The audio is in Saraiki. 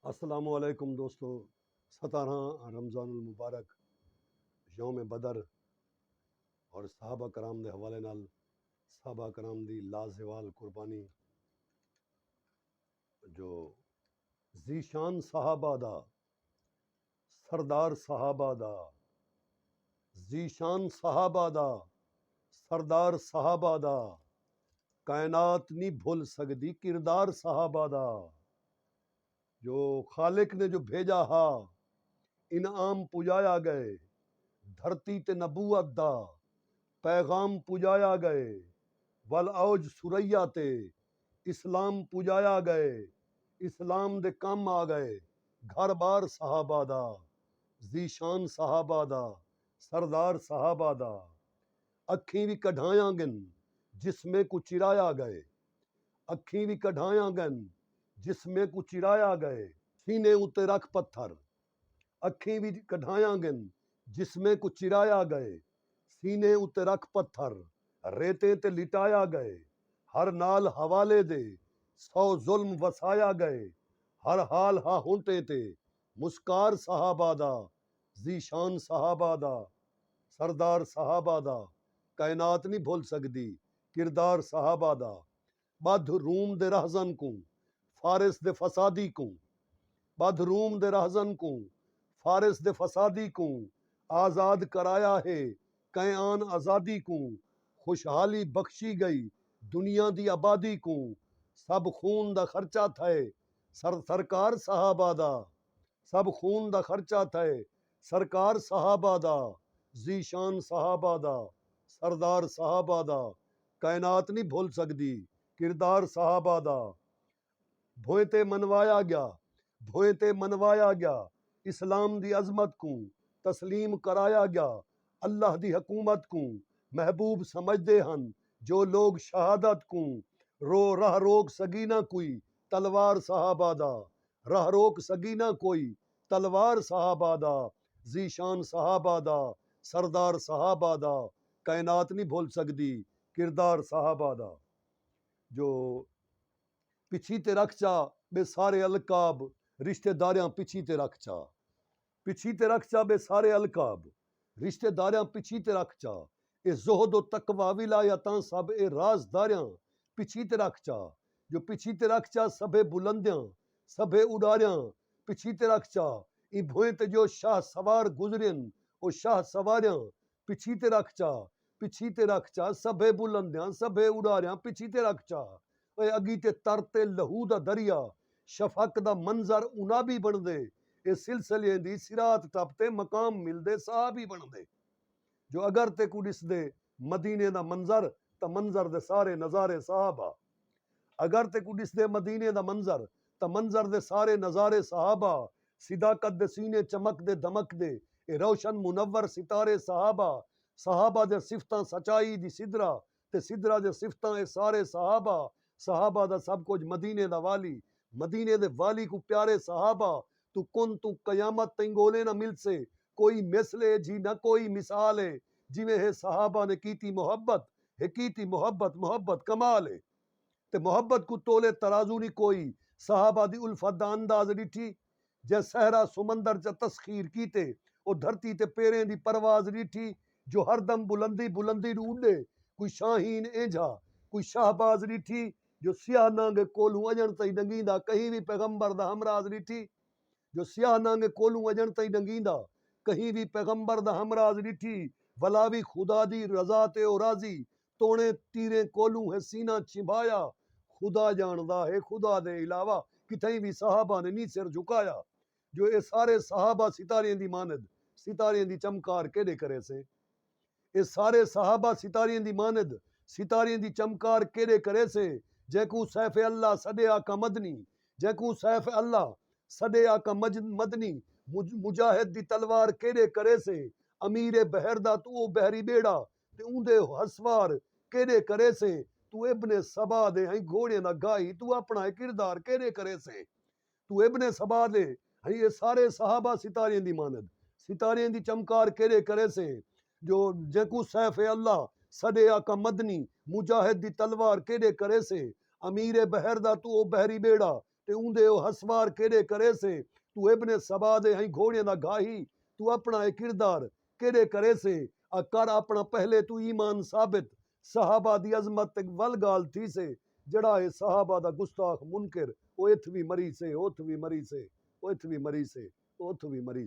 السلام علیکم دوستو ستارہاں رمضان المبارک یوم بدر اور صحابہ کرام دے حوالے نال صحابہ کرام دی لازوال قربانی جو ذیشان صحابہ دا سردار صحابہ دا ذیشان صحابہ دا سردار صحابہ دا کائنات نی بھل سگدی کردار صحابہ دا جو خالق نے جو بھیجا ہا انعام پجایا گئے دھرتی تے نبوت دا پیغام پجایا گئے ول اوج ثریا تے اسلام پجایا گئے اسلام دے کم آ گئے گھر بار صحابہ دا ذیشان صحابہ دا سردار صحابہ دا اکھیں وی کڈھایاں گن جسمیں کوں چرایا گئے اکھیں وی کڈھایاں گن جسمیں کوں چرایا گئے سینے اتے رکھ پتھر اکھیں وچ کڈھایاں گن جسمیں کوں چرایا گئے سینے اتے رکھ پتھر ریتیں تے لٹایا گئے ہر نال حوالے دے سو ظلم وسایا گئے ہر حال ہا ہونٹیں تے مسکار صحابہ دا ذیشان صحابہ دا سردار صحابہ دا کائنات نی بھل سگدی کردار صحابہ دا ٻدھ روم دے رہزن کوں فارس دے فسادی کوں ٻدھ روم دے رہزن کوں فارس دے فسادی کوں آزاد کرایا ہے کئیں آن آزادی کوں خوشحالی بخشی ڳئی دنیا دی آبادی کوں سب خون دا خرچہ تھئے سر سرکار صحابہ دا سب خون دا خرچہ تھئے سرکار صحابہ دا ذیشان صحابہ دا سردار صحابہ دا کائنات نی بھل سگدی کردار صحابہ دا بھوئیں تے منوایا گیا بھوئیں تے منوایا گیا اسلام دی عظمت کوں تسلیم کرایا گیا اللہ دی حکومت کوں محبوب سمجھدے ہن جو لوگ شہادت کوں رو راہ روک سگی نہ کوئی تلوار صحابہ دا راہ روک سگی نہ کوئی تلوار صحابہ دا ذیشان صحابہ دا سردار صحابہ دا کائنات نی بھل سڳدی کردار صحابہ دا جو پچھی تے رکھ چا ٻئے سارے القاب رشتے داریاں پچھی تے رکھ چا پچھی تے رکھ چا ٻئے سارے القاب رشتے داریاں پچھی تے رکھ چا۔ اے زہد و تقوی ولایتاں سب اے راز داریاں پچھی تے رکھ چا جو پچھی تے رکھ چا سبھے بلندیاں سبھے اڈاریاں پچھی تے رکھ چا ایں بھوئیں تے جو شاہ سوار گزرین او شاہ سواریاں پچھی تے رکھ چا پچھی تے رکھ چا سبھے بلندیاں سبھے اڈاریاں پچھی تے رکھ چا اے اگی تے تر تے لہو دا دریا شفق دا منظر انابی بنڑدے اے سلسلیاں دی صراط ٹپ تے مقام ملدے صحابی بنڑدے۔ جو اگر تیکوں ݙسدے مدینے دا منظر تاں منظر دے سارے نظارے صحابہ اگر تیکوں ݙسدے مدینے دا منظر تاں منظر دے سارے نظارے صحابہ صداقت دے سینے چمکدے دمکدے اے روشن منور ستارے صحابہ صحابہ دیاں صفتاں سچائی دی سدرا تے سدرا دیاں صفتاں اے سارے صحابہ صحابہ دا سب کجھ مدینے دا والی مدینے دے والی کوں پیارے صحابہ توں کن توں قیامت تئیں ڳولے نہ ملسے کوئی مثل اے جی نہ کوئی مثال اے جیویں ہے صحابہ نے کیتی محبت ہے کیتی محبت محبت کمال اے تے محبت کوں تولے ترازو نی کوئی صحابہ دی الفت دا انداز ڈٹھی جیں صحرا سمندر چا تسخیر کیتے او دھرتی تے پیریں دی پرواز ڈٹھی جو ہر دم بلندی بلندی ڈو اڈے کوئی شاہین اینجھا کوئی شہباز ڈٹھی جو سیاہ نانگے کولھوں اجنڑ تئیں ڈنگیندا کہیں وی پیغمبر دا ہمراز ڈٹھی جو سیاہ نانگے کولوں اجݨ تئیں ݙنگیندا کہیں وی پیغمبر دا ہمراز ݙٹھی ولا وی خدا دی رضا تے او راضی توݨیں تیریں کولوں ہے سینہ چھنبھایا خدا ڄاݨدا ہے خدا دے علاوہ کتھائیں وی صحابہ نے نی سر جھکایا جو اے سارے صحابہ ستاریاں دی ماند ستاریاں دی چمکار کیݙے کریسیں اے سارے صحابہ ستاریں دی ماند ستاریں دی چمکار کیݙے کریسے جینکوں سیف اللہ سݙے آقا مدنی جینکوں سیف اللہ سݙے آقا مدنی مجاہد دی تلوار کیݙے کریسے امیر بحر دا توں او بحری ٻیڑا تے اوندے ہسوار کیݙے کریسے توں ابن سبا دے ہیں گھوڑیاں دا گاہی توں اپݨا اے کردار کیݙے کریسے توں ابن سبا دے ہئیں اے سارے صحابہ ستاریں دی مانند ستاریں دی چمکار کیرے کریسے جو جینکوں سیف اللہ سڈے آقا مدنی مجاہد دی تلوار کیرے کریسے امیر بحر دا توں او بحری بیڑا تے اوندے او ہسوار کیرے کریسے توں ابن سبا دے ہئیں گھوڑیاں دا گھاہی توں اپنا اے کردار کیرے کریسے آ کر اپنا پہلے توں ایمان ثابت صحابہ دی عظمت تے ول گالھ تھیسے جیڑھا ہے صحابہ دا گستاخ منکر او اتھ وی مریسے او اتھ وی مریسے او اتھ وی مریسے او اتھ وی مریسے۔